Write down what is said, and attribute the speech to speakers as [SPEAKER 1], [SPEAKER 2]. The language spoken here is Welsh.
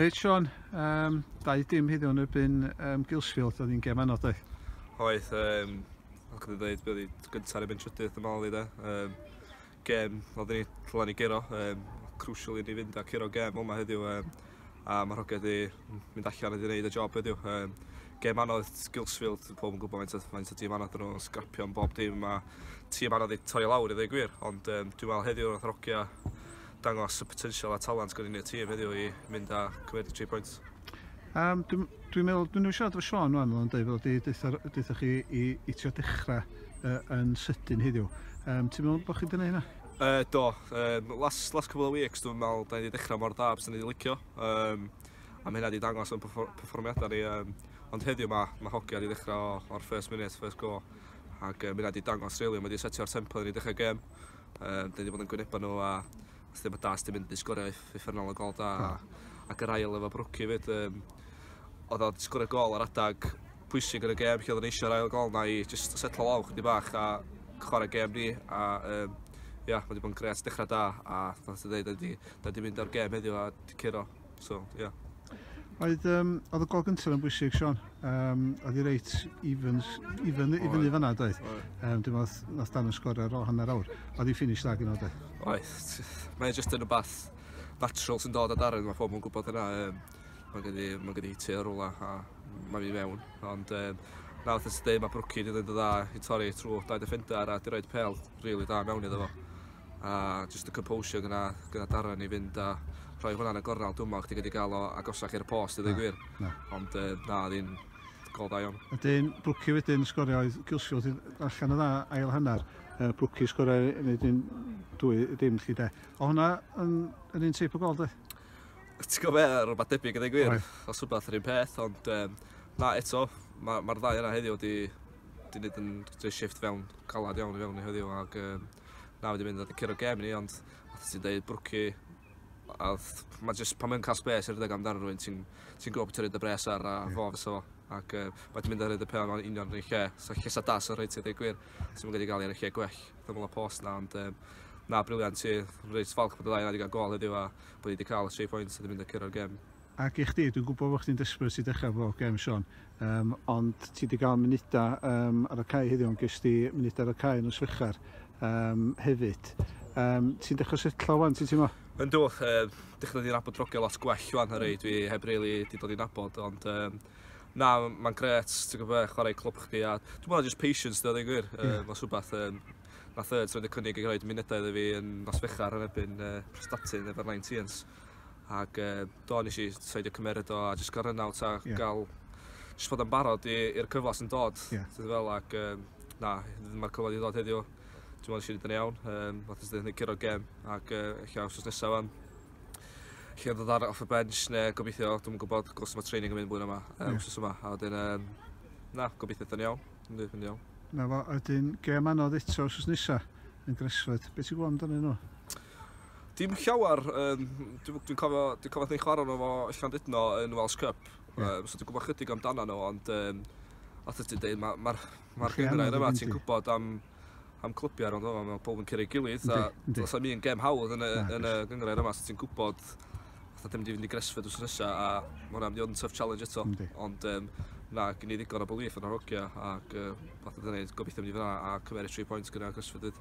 [SPEAKER 1] Reit Sean, um, dau dim heddiw yn erbyn um, Gilsfield, oedd hi'n gem anodd doedd? Oedd, um,
[SPEAKER 2] fel chi wedi dweud, oedd hi gyntaf yn erbyn trydydd yn ôl i da. Um, gem, oedd ni llan i gero, um, crucial i ni fynd a cero gem yma heddiw. Um, a mae Rhoged i mynd allan wedi gwneud y job heddiw. Um, gem anodd Gilsfield, pob yn gwybod faint o, faint o tîm anodd nhw'n sgrapio yn bob dim, a tîm anodd i torri lawr i ddweud gwir, ond um, dwi'n meddwl heddiw wrth rocio dangos y potensial a talent gynnu yn y tîm heddiw i mynd a cymryd y tri pwynt. Um, Dwi'n
[SPEAKER 1] dwi meddwl, dwi'n ei siarad efo Sean o'n o'n dweud fel di, deuthoch chi i, i trio dechrau uh, yn sydyn heddiw. Um, ti'n meddwl bod chi wedi gwneud hynna? Uh, do, um,
[SPEAKER 2] last, last couple of weeks dwi'n meddwl da ni wedi dechrau mor da bys ni wedi licio. Um, a mae hynna wedi dangos yn performiadau ni. Um, ond heddiw mae, mae hogia wedi dechrau o'r first minute, first go. Ac um, hynna wedi dangos rili, really, mae wedi setio'r tempo ni dechrau gem. Yym dan ni 'di bod yn gwyneba n'w a os dim yn da os dim mynd i sgorio uff- uffernol o gol da a ac yr ail efo Brookie 'fyd yym odd o 'di sgorio gol ar adag pwysig yn y gêm lle odden ni eisio yr ail gol 'na i jyst setlo lawr chydig bach a chware gêm ni a yym ia ma' 'di bod yn grêt dechra da a fel ti ddeud 'dan ni 'di 'dan ni 'di mynd o'r gêm heddiw a 'di curo. so ie. Yeah. Oedd, um,
[SPEAKER 1] oedd y gol gyntaf yn bwysig, Sean. Um, oedd i reit even, even, i fyny fanna, doedd. Um, dim oedd, nath dan yn sgor ar ôl hanner awr. Oedd i ffinish dda gyda, doedd. Oedd,
[SPEAKER 2] mae'n just yn y bath natural sy'n dod o Darren, mae pobl yn gwybod yna. Um, mae gen i, mae gen i tu ar rola a mae mi mewn. Ond um, na, oedd ysdi, mae Brookie wedi dweud y dda i torri trwy dau defender a di roed pel rili really dda mewn iddo fo. a jyst y composure gyda gyda Darren i fynd a rhoi hwnna'n y gornel dwi'n meddwl chdi wedi cael o agosach i'r post i ddweud gwir. Na. Ond uh, na, ddim gol da iawn. Ydyn, Brwci wedyn
[SPEAKER 1] sgorio oedd Gilsfield yn allan y dda ail hanner. Uh, Brwci sgorio yn un dwy dim chi de. O hwnna yn, yn un teip o gol de? Ti'n gwybod
[SPEAKER 2] beth, rhywbeth debyg yn ei gwir. Os rhywbeth yr un peth, ond um, na eto, mae'r ma, ddau yna heddiw wedi wedi gwneud yn rhoi shift fewn calad iawn i fewn i heddiw ac um, Na fi 'di mynd ar dipyn o gêm ni ond fel ti'n deud Brookie a odd ma' jyst pan mae'n ca'l sbês i redeg amdano rywun ti'n ti'n gwbo be' ti roid dy bres ar a fo fysa fo ac yy ma' 'di mynd a roid y pêl mewn union 'r un lle so llysa da sy reit i ddeu gwir. Ti'm yn gallu ga'l e ar y lle gwell yn ôl y post 'na ond yym na briliant ti reit falch bod y ddau o ni 'di ga'l gôl heddiw a bo' ni 'di ca'l y tri pwynt a 'di mynd a curo'r gêm Ac i chdi, dwi'n
[SPEAKER 1] gwybod bod chdi'n desperate i dechrau efo gem Siôn, um, ond ti wedi cael munudau um, ar y cae heddiw, ond ges ti munudau ar y cae yn y swechar um, hefyd. Um, ti'n dechrau setlo wan, ti'n teimlo? Yn dwch, uh,
[SPEAKER 2] dechrau di nabod drogio lot gwell wan ar ei, dwi heb really di dod i nabod, ond um, na, mae'n gret, ti'n gwybod, chwarae clwb chdi, a dwi'n meddwl just patience, dwi'n gwir, uh, yeah. mae'n rhywbeth, um, nath y trwy'n y cynnig i roed munudau iddo fi yn nos fechar yn ebyn uh, Prestatyn efo'r 19s. Ac yy do nes i saidio cymeryd o a jyst cael run out a yeah. gael jyst bod yn barod i'r cyfle sy'n dod. Yeah. Ti'n fel ac um, na, mae'r cyfle wedi dod heddiw. Dwi'n meddwl nes i yn iawn. Um, Fath ysdyn yn curo gem ac uh, eich aws os nesaf fan. Lle ddod ar off y bench neu gobeithio, dwi'n gwybod gos mae training yn mynd blwyddyn yma, um, yeah. wrth yma. A wedyn, um, na, gobeithio yn iawn. Yn iawn. Na fo, ydyn
[SPEAKER 1] gem anodd eto os nesaf yn Gresford. Beth ti'n gwybod amdano nhw? Dim
[SPEAKER 2] llawer, yym dwi dwi'n cofio dwi'n cofio ni'n chwarae arno fo yn Llandudno yn Welsh Cup yeah. um, so dwi'n gwybod chydig amdano nhw ond um, os ti'n dweud mae'r ma, ma, ma gymryd yma ti'n gwybod am am clybiau ond yma mae pob yn cyrraedd gilydd a os am un gem hawdd yn y, yn y gyngrau yma so ti'n gwybod fatha ddim wedi fynd i Gresford wrth nesaf a mae hwnna'n mynd i fod yn tough challenge eto. Yndi. Ond um, na, gen i ddigon o belief yn yr hogia ac uh, fath o ddyn gobeithio mynd i fyna a cymeryd 3 pwynt gyda Gresford dyd.